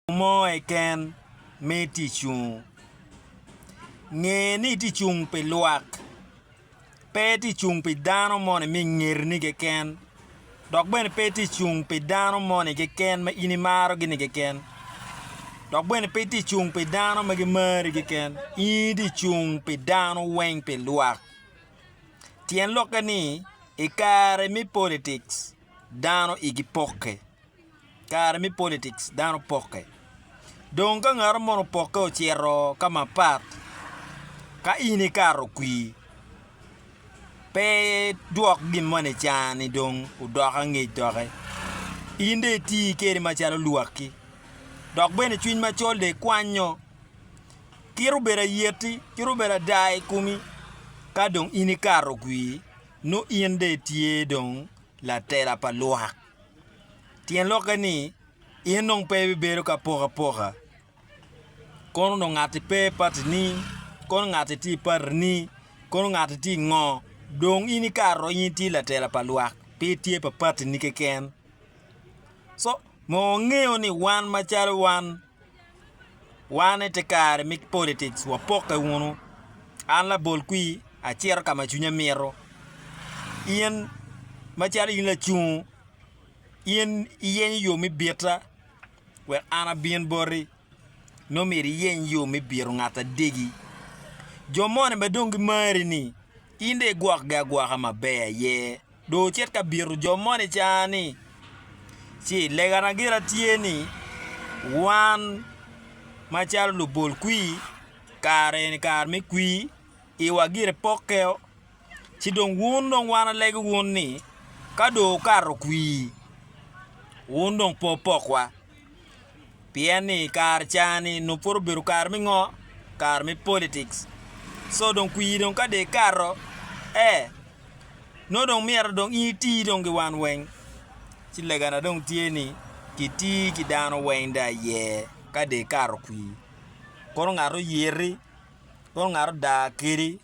Mo keken me ticwu. Nge ni itye ka cung pi lwak, pe itye ka cung pi dano moni ma i ngetini keken, dok bene pe itye ka cung pi dano moni keken ma in imarogi-ni keken, dok bene pe itye ka cung pi dano ma gimari keken. In itye ka cung pi dano weng, pi lwak. Tyen lokke ni, i kare me politics, dano igi pokke, kare me politics dano pokke dong ka ngat mo opokke ocito ka mapat ka in ikato kwi pe dwok gin mo nicani dong odok angec doki in dong iti kene macalo lwakki dok bene cwiny macol dong ikwanyo kit obedo ayeti kit obedo ada i komi ka dong in ikato kwi. Nongo in dong itye dong latela pa lwak. Tyen lokke ni, in dong pe ibibedo ki apokapoka. Kono dong ngatti pe i patini, kono ngatti tye i patini, kono ngatti tye i ngo, dong in ikato in itye latela pa lwak pe itye pa patini keken. Co, onongo wangeyo ni wan macalo wan Wan ite kare me politics wapokke wunu. An labol kwir acito ka ma cwinya mito. In macalo in lacungo, in iyenyo yo me bita wek an abin boti nongo myero iyeny yo me bito ngat adegi. Jo moni ma dong gimari-ni in dong igwokgi agwoka maber aye Dong wucit ka bito jo moni i car-ni, ci legana gira tye ni, wan macalo lubol kwir, kare eni kare me kwir, iwa gire pokkeo, ci dong wun dong wan alegi wun ni, ka dong wukato kwir, wun dong pe wupokwa. Pien ni i kare cani nongo pud obedo kare me ngo? Kare me politics. So dong kwir dong ka dong ikato ee nongo dong myero dong in iti dong ki wan weng. Ci legana dong tye ni kiti ki dano weng dong aye ka dong ikato kwir. Kono ngat oyiti, kono ngat odaa kedi.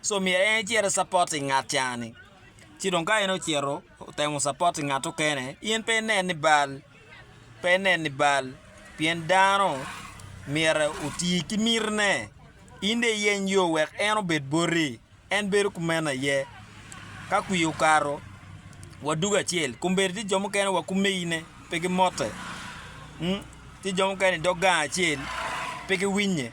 so myero en ecit ecapot i ngat ca ni ci dong ka en ocito otemo capot i ngat mukene in pe inen ni bal pe inen ni bal pien dano myero oti ki miti ne in dong iyeny yo wek en obed boti en bedo kumeno aye ka kwir okato wadugo acel kombeddi tye jo mukene wa kumegi ne pe gimote tye jo mukene idog gang acel pe giwinye.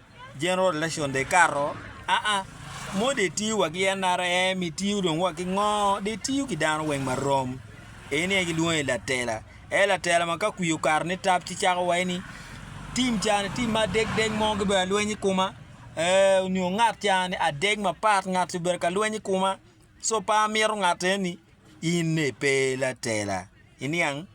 General election dong ekato aa mono dong etiyo wa ki NRM itiyo dong wa ki ngo dong itiyo ki dano weng ma rom eni aye gilwongo ni latela aye latela ma ka kwir okato ni tap ci cako waci ni tim ca ni tim ma adek dek mo gibedo alweny i koma ee onyo ngat ca ni adek mapat ngat obedo ka lweny i koma so pe amito ngat eni ine pe latela iniang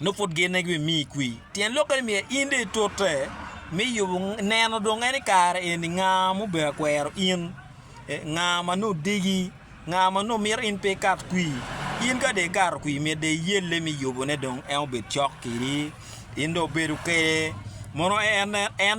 nongo pud genne ki bimiyi kwi. Tyen lokke ni myero in dong itute me yubo neno dong en i kare eni nga ma obedo akwero in, nga ma nongo odegi, nga ma nongo mito in pe ikat kwi. In ka dong ikato kwi myero dong iyelle me yubone dong en obed cok kwedi, in dong obedo kwede mono en